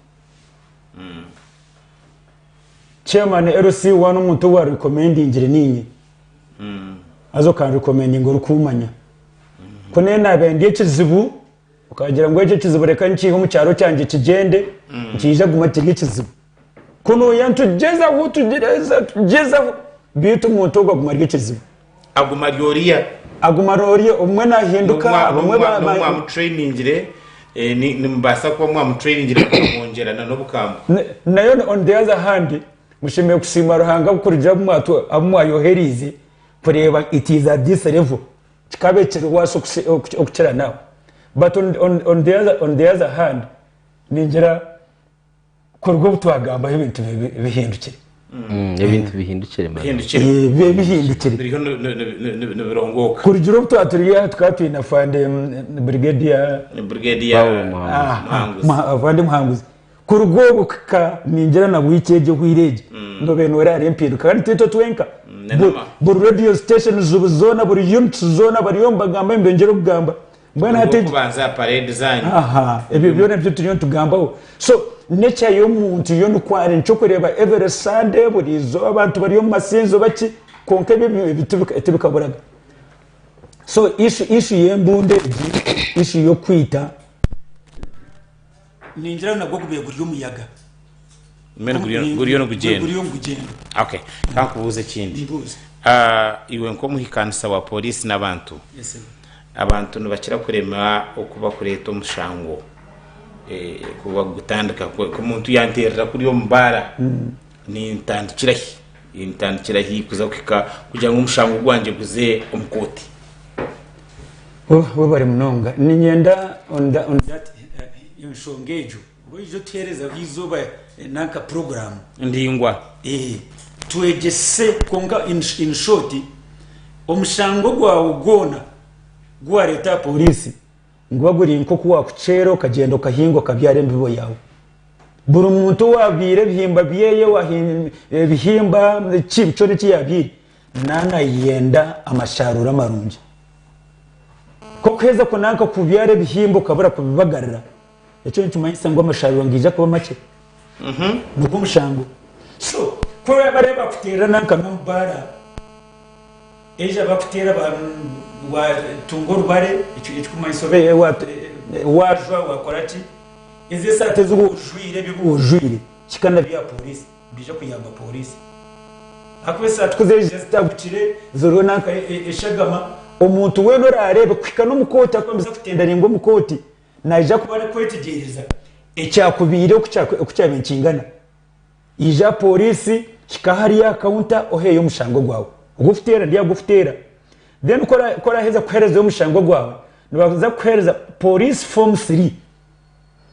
Speaker 1: Chairman LC one omuntu owa recommendingire ninye. Haza okan recommendinga orikumanya. Ku naye nabaire ndi ekizibu, okagira ngu ekyo ekizibu reka nkiihe omu kyaro kyangye kigyende, nikiija kuguma kiri ekizibu. Ku nooya nitugyezaho, tugyeza, tugyezaho, beitu omuntu ogwo aguma ari ekizibu. Aguma ari oriya. Aguma ari oriya, obumwe nahinduka, abamwe ba, N'obu mwamutrainingire,
Speaker 2: eh, ni- nimubaasa kuba mwamutrainingire mukamwongyera na n'obukambwe. Na- nayo on- on the
Speaker 1: other hand, mushemereire kusiima Ruhanga kurugiirira abu mwatu- abu mwayohereize kureeba it is at this level, kikaba ekiriwaatsi okusi- oku- okukira naho. But on- on- on the other- on the other hand, ningira, kuruga obu twagambaho ebintu bibe bihindukire Mm, ebintu
Speaker 3: bihindukire mara. bihindukire Eh, bibe
Speaker 1: bihindukire biriho ni- ni- ni-
Speaker 2: ni- ni- nibirongoka kurugira obu twaba turi
Speaker 1: aha tukaba twine afande mm, brigadier ni brigade ya Paul Muhanguzi. Ah, Muhanguzi. Muha- avande muhanguzi kuruga obu kika ningira na bwiki egyo ohwire egyo nobe nore hari empinduka kandi twitwe twenka nenama. Bu- buri radio station zubu zona buri units zona bariyo nibagamba nibeyongyera okugamba Mbwenu hati egi- kubanza parade zanyu
Speaker 2: aha ebyo byona
Speaker 1: ebyo turiyo nitugambaho so nature y'omuntu yo nikwo ari nkyokureeba every sunday buri izooba abantu bari omu masinzo baki kwonka ebyo bi- bi- tibi- tibikaburaga so issue issue y'embundu egi issue y'okwita Ningira nagwo gubaire guri omuyaga. Mbwenu Omu-
Speaker 2: guriyo ni- guriyo ni- nigugyenda guriyo nigugyenda
Speaker 1: okay
Speaker 2: kankubuuza ekindi Mbuuza. Ah, iwe nk'omuhikanisa wa polisi n'abantu Yes, sir. abantu nibakira kurema oku bakureeta omushango eh, kuba gutandika ku- ku omuntu yanteerera kuri omu baara Nintandikira hi? Nintandikira hi kuza kuhika kugira ngu omushango gwangye guze omu kooti?
Speaker 1: Oh, webare munonga. Ninyenda onda, ondire ati, eh, enshonga egyo oba oije otuherezaho eizoba eh, nanka puroguramu. Endingwa.
Speaker 2: Eh,
Speaker 1: twegyese kwonka, in, in short, omushango gwawe gwona gu wareeta aha pooriisi. Guba guri nk'oku waakuceera okagyenda okahinga okabyara embibo yaawe. Buri muntu owaabyire ebihimba byeye ebihimba ki kyona eki yaabyaire naaba naayenda amasharuura marungi. Ku orikuheeza kunaanka kubyara ebihimba okabura kubibagarira, ekyo nikimanyisa ngu amasharuura nigaija kuba makye. nigwo mushango. So ku oraabe ari abakuteerana nka n'obubaara, eija bakuteera ba, waatunga orubare, eki, ekikumanyisa obe, wa, waajwa, waakora ki, ezi esaati ezi woojwaire, ebi ebi woojwaire, kika na bya pooriisi, nibiija kuyamba pooriisi. Ahakuba esaati ku zeejire zitagukire, ziriho nanka e, e, eshagama, omuntu weena oraareebe, kuhika n'omu kooti, ahakuba nibaza kutendaringa omu kooti, Naija kuba arikwetegyereza ekyakubaire oku kyabaire nikingana. Ija aha pooriisi, hika hariya aha kaunta oheeyo omushango gwawe. Ogu orikuteera ndi aha gukuteera. Then ku oraheza kuheerezayo omushango gwawe, nibaija kukuheereza pooriisi foomu three.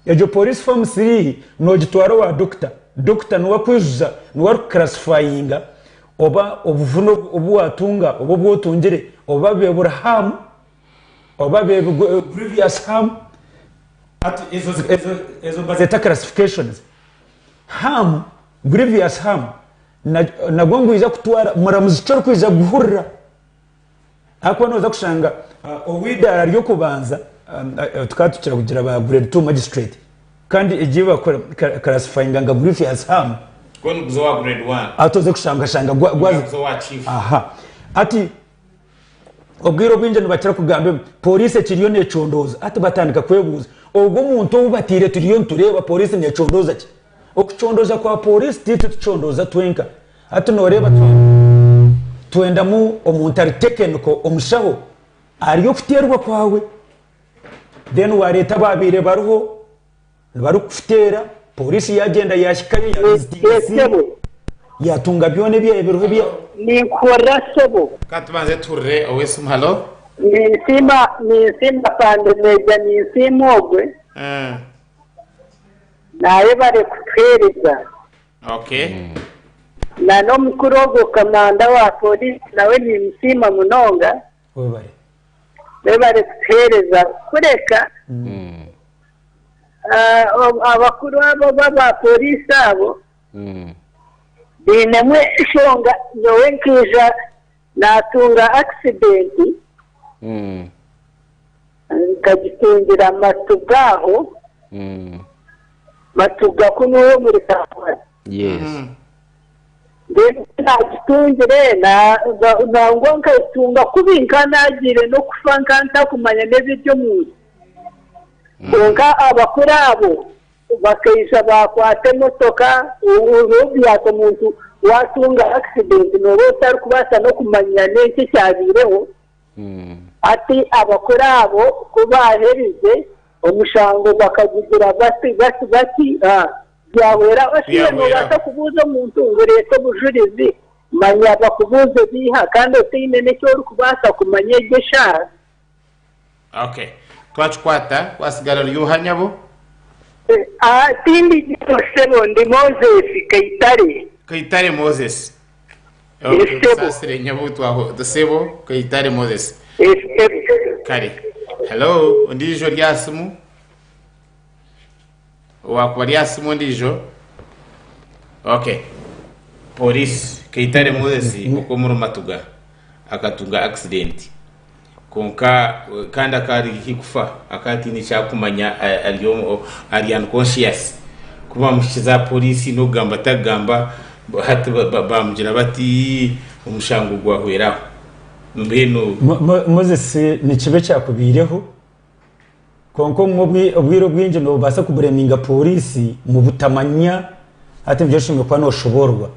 Speaker 1: Egyo pooriisi foomu three noogitwara owa dokita. Dokita niwe arikwijuza, niwe arikukurasifayinga oba obuvune obu waatunga oba obu otungire oba buri haamu. oba beebigwe previous harm hati ezo ezo nibazeeta classifications harm previous harm nagwo nigwija kutwara muramuzi ki orikwija kuhurira ahakuba nooza kushanga uh, ow'eidaara ry'okubanza um, uh, uh, tukaba tukira kugira ba grade 2 magistrate kandi egi bakora classifyinga nka previous harm
Speaker 2: atoze kushangashanga
Speaker 1: gwaza aha
Speaker 2: ati
Speaker 1: Obwire obwingi nibakira kugamba ngu pooriisi ekiriyo neecondooza. Hati batandika kwebuuza, Ogwo omuntu ou bataire turiyo nitureeba pooriisi neecondooza ki? Okucondooza kwa pooriisi ti itwe tucondooza twenka. Hati nooreeba twendamu omuntu ari tekeniko, omushaho ahari okuteerwa kwawe. Reero waareeta abaabaire bariho. Nibarikufuteera, pooriisi yaagyenda yaahikayo yaavizitinga esiimu, yaatunga byona ebyaabaire biriho ebya. Ninkuhurira
Speaker 4: sebo. Ka tubanze tuhurire
Speaker 2: ow'esimu. Halo. Ninsiima,
Speaker 4: ninsiima Afande Meeja, ninsiima ogwe. Eeh. Naayebare kutuheereza. Okay. Na n'omukuru ogwo kamanda wa pooriisi nawe niimusiima munonga. Webare. Webare kutuheereza kureka abakuru abo oba ba poriisi abo bainemu enshonga. Nyowe nkaija naatunga akisidenti nkagitungira amatu gaaho, amatu ga kunu omuri Kampala. Yes.
Speaker 3: Mbwenu ku
Speaker 4: naagitungire, na, na, nangwa nkagitunga kubi, nkaba naagiire n'okufa, nkaba ntakumanya n'ebiri omu nsi. Kwonka abakuru abo bakaija baakwata emotoka, o, oriho obyaata omuntu waatunga akisidenti nooba otarikubaasa n'okumanya n'enki ekyabaireho. Hati abakuru abo ku baaherize, omushango bakagugira bati, bati, bati, a, Byahwera oshaire noobaasa kubuuza omuntu ngu reeta obujurizi, manya bakubuuze ebiiha kandi otaine n'eki orikubaasa kumanya egi eshaaha.
Speaker 2: Ok. Twakikwata, watsigara ori oha nyabo? Tindi
Speaker 4: nyabo ssebo, ndi Moses Kaitare. Kaitare Moses.
Speaker 2: Ok, nkusaasire nyabo, twahurira. Ssebo Kaitare Moses. Kare. Hello, ondiijo ori aha simu? Owaakuba ari aha simu ondiijo. Okay. Pooriisi, Kaitare Moses okw'omuri Matuga akatunga akisidenti kwonka kandi akaba ari haihi kufa, akaba ataine eki arikumanya, ari unconscious. Ku baamuhikiize aha pooriisi n'okugamba tarikugamba, hati baamugira bati, omushango gwahwera aho. Mbwenu. Moses,
Speaker 1: Nikibi ekyakubaireho? Kwonka obumwe obwire obwingi nobaasa kubureminga pooriisi mu butamanya hati nibyo oshemereire kuba noshoboororwa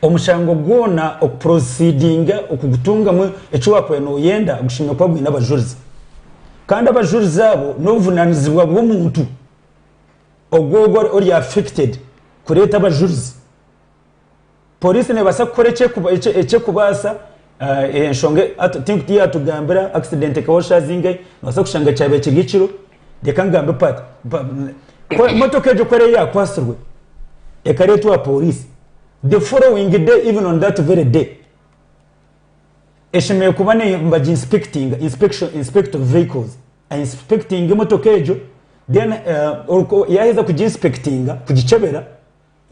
Speaker 1: omushango gwona okuprosidinga okugutungamu eki wakubaire noyenda gushemereire kuba gwine abajurizi kandi abajurizi abo nobuvunanizibwa bw'omuntu ogwo ori affected kureeta abajurizi. Poliisi neebaasa kukora eki erikubaasa. Enshonga ei yaatugambira ngu akisidenti ekabaho shaaha zingahi, noobaasa kushanga kyabaire kiri ekiro, reka ngambe paati, motoka egyo ku eriyo yaakwatsirwe, ekareetwa aha pooriisi, the following day even on that very day, eshemereire kuba neebaginsipekitinga, inspect of vehicles, ainsipekitinge motoka egyo, then yaaheza kuginsipekitinga, kugikyebera.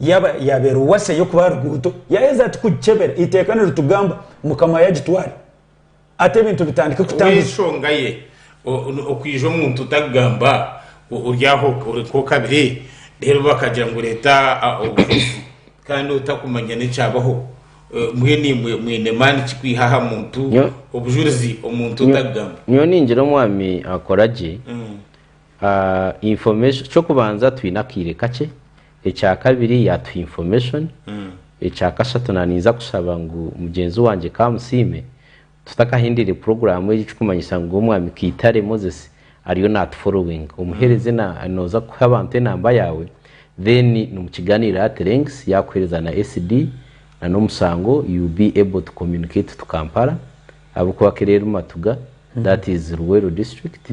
Speaker 1: Yaaba yaabaire eruwatsi ey'okuba aha ruguuto, yaaheza ati, Kugikyebera! Eiteeka niritugamba, Mukama yaagitwara ata ebintu bitandike kutambuza. Ow'enshonga ye,
Speaker 2: okwija omuntu otakugamba, ori aho ori nk'okabire, reero bakagira ngu reeta obujulizi kandi otakumanya n'ekyabaho. Mbwenu imwe mwine maani ki kwiha aha muntu obujulizi omuntu otakugamba? Nyowe ningira Omwami
Speaker 3: akora gye, Information, ky'okubanza twine akaire kakye, ekya kabiri yatuha information, ekya kashatu na ninza kushaba ngu mugyenzi wangye Kamusiime tutakahindiire puroguramu egi ekikumanyisa ngu Omwami Kaitare Moses ariyo natu followinga. Omuhereze na noza kuha abantu enamba yawe then nimukiganirira ati lengths yakuhereza na SD na n'omusango you will be able to communicate to Kampala ahabw'okuba Kerere Matuga that is Luweero district.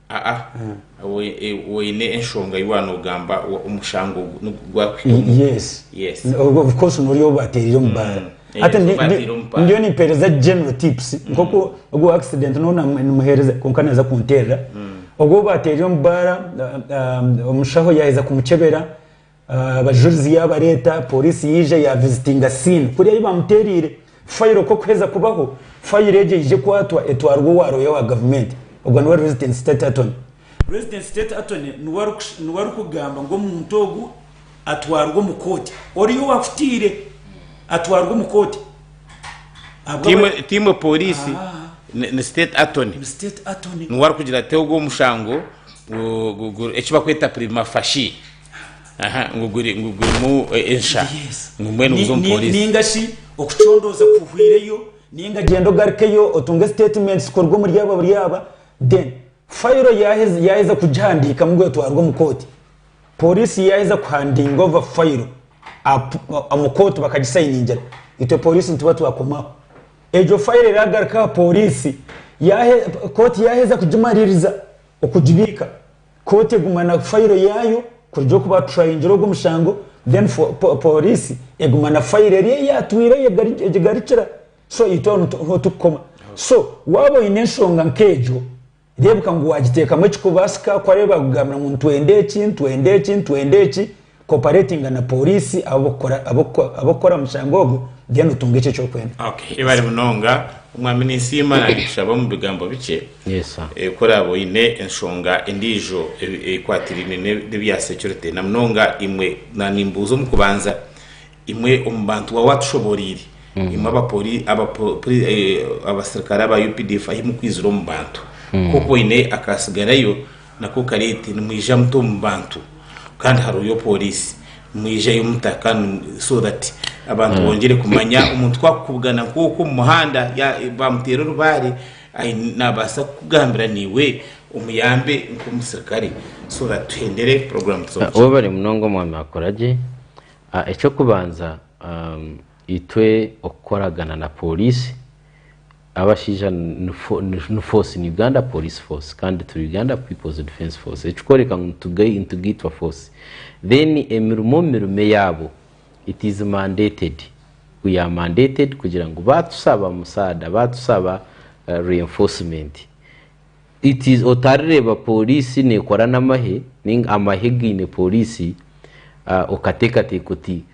Speaker 1: Aa, aa,
Speaker 2: oine enshonga ei waaba noogamba omushango ogu nigwo gwakuhikamu. Yes. Yes.
Speaker 1: Of course noori ou baateereire omu baara. Yes, Hati ndi- baateire ndi- omu baara. ndiyo nimpeereza general tips nk'oku ogwo accident noona namu- nimuheereza kwonka naaza kunteerera. Ogwo ou baateereire omu baara, ah, ah, omushaho yaaheza kumukyebera, Abajurizi yaabareeta, pooriisi yaija yaavizitinga siini kuri ahu baamuteereire fayiro kw'okuheza kubaho. Fayiro egyo yaija ekwatwa etwarwa owa rooya wa gavumenti, ogwo niwe Resident State Attorney. Resident State Attorney niwe arikugamba ngu omuntu ogu atwarwe omu kooti, oriya owaakutaire atwarwe omu kooti. Ti
Speaker 2: imwe pooriisi, ni State Attorney niwe arikugira ati ogwo omushango eki barikweta prima facie. aha ngu guri- ngu gurimu eh, ensha ngu mbwenu buza omu Ni- ni- polisi ninga shi
Speaker 1: okucondooza kuhwireyo ninga gyenda ogarukeyo otunge statement zikorwa omuri aba buri aba then fayiro yaaheza yaaheza kugihandiika mbwenu etwarwe omu kooti polisi yaaheza kuhandinga ova fayiro apu- omu kooti bakagisayiningira itwe polisi nituba twakomaho egyo fayiro eraagaruka aha polisi yaahe- kooti yaaheza kugimaririza okugibiika Kooti eguma na fayiro yaayo kuruga oku baaturayingire ogwo mushango then pooriisi eguma na fayiro eri ei yaatwire egigarukira so itwe aho niho turikukoma. So waaba oine enshonga nk'egyo reebuka ngu waagiteekamu ekikubaasika ku ariyo baakugambira ngu nitwenda eki, nitwenda eki, nitwenda eki. Cooperatinga na Pooriisi ab'okukora aha mushango ogwo then otunge ekyo ekyokwenda. Ok ebare munonga
Speaker 2: omwami ninsiima nandikushaba omu bigambo bikye ku
Speaker 3: oraabe oyine
Speaker 2: enshonga endiijo ekwatiraine nebya security na munonga imwe nimbuuza omu kubanza imwe omu bantu waaba watushoboreire imwe abasirikare aba updf ahu murikwizira omu bantu nk'oku oyine akatsigarayo Nako karete nimwija muta omu bantu kandi haroyo police nimwijayo muta kandi so that abantu bongere kumanya omuntu ku akukubugana nk'oku omu muhanda ya bamutera orubare ayine nabasa kukugambira niwe omuyambe nk'omusirikare so that tuhendere program tuze omu kihika. Webare munonga
Speaker 3: omwami akuragye. Ekyokubanza. Itwe okukoragana na Pooriisi, abashaija ni force in Uganda, Police Force, kandi turi Uganda People's Defence Force, ekikworeka ngu nitugaitwa force. Then emirimo omu mirimo eyaabo it is mandated, we are mandated kugira ngu baatusaba musaada, baatusaba reinforcement, it is otarireeba Pooriisi neekora n'amahe, amahe gaine Pooriisi, okateekateeka oti,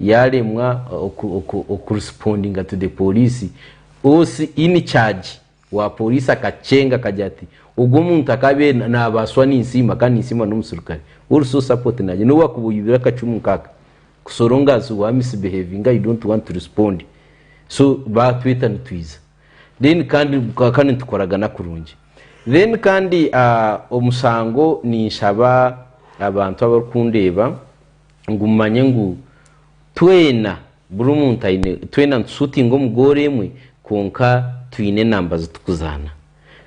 Speaker 3: Yaaremwa okurespondinga to the pooriisi, OC in charge wa pooriisi akakyenga akagira ati, Ogwo omuntu akabeire naabaaswa ninsiima kandi ninsiima n'omusirikare. Also support naagira ngu waakuba oibire akacumu nk'aka, kusoronga as wa misbehavinga you don't want to respond. So baatweta nitwiza. Then kandi kandi nitukoragana kurungi. Then kandi omusango ninshaba abantu abarikundeeba ngu mumanye ngu twena buri omuntu aine twena nitushutinga omu goolo emwe kwonka twine enamba ziturikuzaana.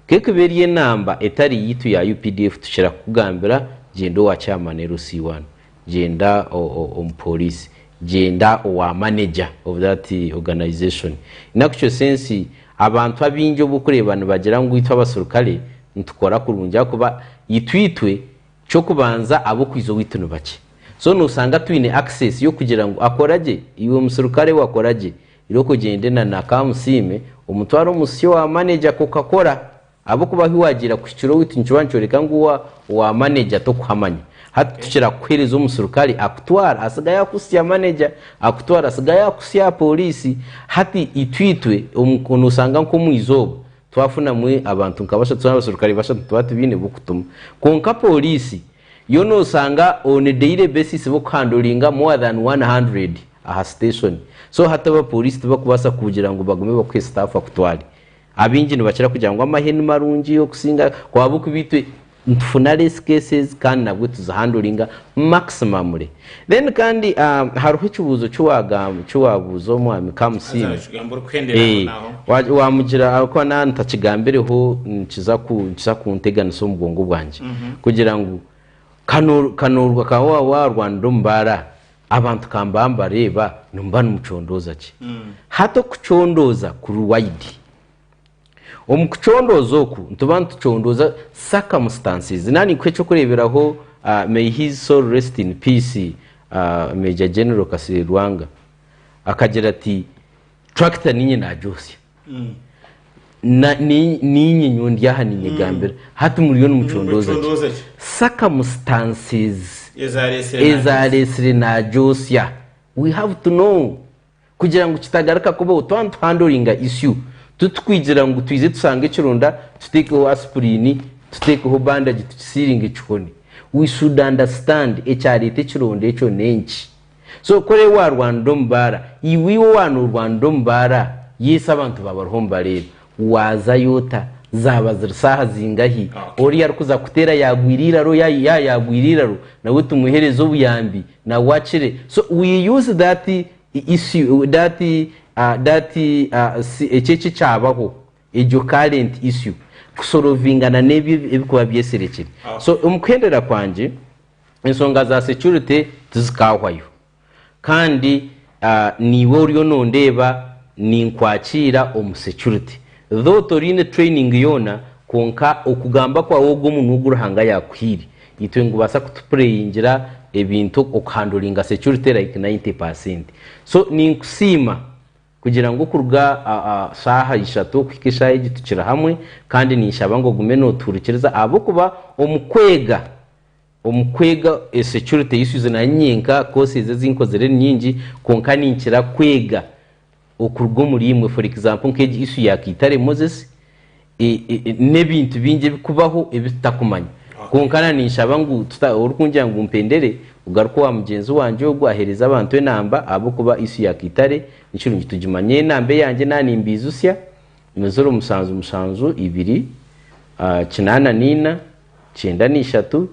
Speaker 3: Ku ekuba eri enamba etari yaitu ya updf tukira kukugambira gyenda owa chairman LC I, gyenda omu poliisi, gyenda owa manager of that organisation. In actual sense abantu abaingi obu orikureeba nibagira ngu itwe abaserukare nitukora kurungi ahakuba itwe itwe Ky'okubanza ab'okwiza owaitu ni bakye. So noosanga twine access y'okugira ngu akora gye, iwe musirukare we akora gye, iroka ogyende na na ka musiime omutware omu si owa manager ako kakora. Ahabw'okuba ahu waagiira kuhikira owaitu nikirwa nikyoreka ngu owa owa manager tokuhamanya. Hati tukira kukuheereza omusirukare akutwara atsigare yakutsya manager, akutwara atsigare yakutsya aha pooriisi. Hati itwe itwe omu noosanga nk'omu izooba Twafunamu abantu nka bashatu nari abaserukare bashatu tuba tubaine b'okutuma. Kwonka pooriisi yo noosanga on daily basis b'okuhanduringa more than one hundred aha siteeshoni. So hati abapooriisi tibakubaasa kugira ngu bagume bakuhe sitaafu akutware. Abaingi nibakira kugira ngu amahe ni marungi okusinga, kuba ahabw'okuba itwe Nitufuna less cases kandi nabwo tuzihanduringa maximumly. Then kandi hariho ekibuuzo kiwabuuza omwami Kamusiime, wamugira ahabw'okuba naba ntakigambireho nikiza kunteganisa omu bwongo bwangye kugira ngu kanoorwa ka waaba waarwanire omu baara abantu ka mbaba mbareeba, nimuba nimucondooza ki? Hati okucondooza kuri wide. Omu kucondooza oku, nituba nitucondooza circumstances nari nka eky'okureeberaho may his soul rest in peace Major General Kasirye Lwanga akagira ati tractor niinye nagyotsya niinye nyowe ndi aha niinyegambira hati muriyo nimucondooza ki? Circumstances ezareetsire nagyotsya we have to know Kugira ngu kitagaruka kubaho, twaba nituhandoringa isyu, titukwigira ngu twije tusange ekironda tuteekeho asipuliini, tuteekeho bandagi tukisiiringe kihone. We should understand ekyareeta ekironda ekyo n'enki. So ku oriyo waarwanira omu baara, iwe iwe waaba noorwanira omu baara, yes abantu baawe bariho nibareeba. Waazayo ota? Zaaba ziri shaaha zingahi? Ori arikuza kukuteera yaagwire eiraro, yaaba yaaba yaagwire eiraro, nawe tumuheereze obuyambi nawe akire. So we use that issue, that that si ekyo eki ekyabaho, egyo current issue kusorovingana n'ebi ebirikuba byeserekire. So omu kuhendera kwangye, ensonga za security tizikaahwayo. kandi niiwe oriyo nondeeba ninkwakiira omu security though toriine training yoona kwonka okugamba kwaawe ogwo omunwa ogu Ruhanga yaakuhaire itwe nigubaasa kutupureyingira ebintu okuhandulinga security like ninety percent so ninkusiima kugira ngu okuruga shaaha ishatu okuhika eshaaha egi tukiri hamwe kandi ninshaba ngu ogume notuhurikiriza ahabw'okuba omu kweega Omu kwega security issues naanye nyenka course ezi ezi nkozire ni nyingi kwonka ninkira kwega okuruga omuri imwe for example nka egi issue ya Kaitare Moses n'ebintu bingi ebikubaho ebi tutakumanya kwonka na ninshaba ngu orikungira ngu mpendere ogaruke owa mugyenzi wangye ogu ahereze abantu enamba ahabw'okuba issue ya Kaitare nikirungi tugimanye enamba eyangye na nimbiijusya Ni ziro musanju musanju ibiri, kinaana naina, kyenda naishatu,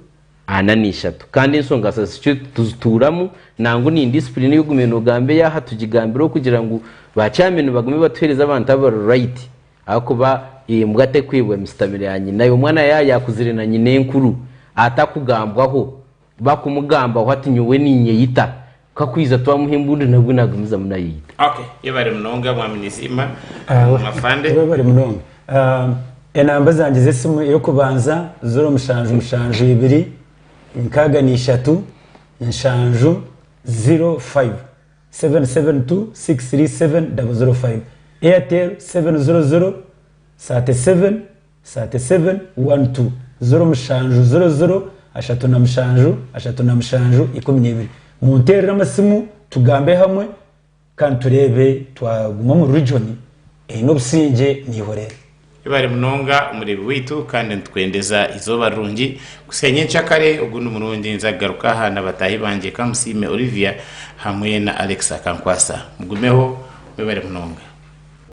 Speaker 3: ana naishatu. Kandi enshonga za CQ tuzituuramu nangwa ni indiscipline ei ogumire nogamba ei aha tugigambire okugira ngu ba chairman nibagume batuhereze abantu abari right ahakuba embwa terikwebwa misitamiro ya nyina. Omwana yaba yakuzire na nyina enkuru atakugambwaho Bakumugambaho ati nyowe ninyeyita ka kwiza twamuha embundu nabwo nagumizamu nayeyita. Ok yebare munonga
Speaker 2: mwami Nizima afande. Webare munonga
Speaker 1: enamba zangye zesimu eyokubanza ziro mushanju mushanju ibiri nkaga nishatu nshanju ziro five seven seven two six three seven double ziro five Airtel seven ziro ziro thirty seven Sati seven wani tu ziro mushanju ziro ziro ashatu na mushanju ashatu na mushanju ikumi n'ebiri munteerere amasimu tugambe hamwe kandi tureebe twaguma omu region eine obusingye niihorere. Webare munonga
Speaker 2: omureebi waitu kandi nitukwendeza eizooba rirungi. Kusya nyenkya kare ogundi murundi nza kugaruka aha na bataahi bangye Kamusiime Olivia hamwe na Alex Akankwasa. Mugumeho. Mwebare munonga.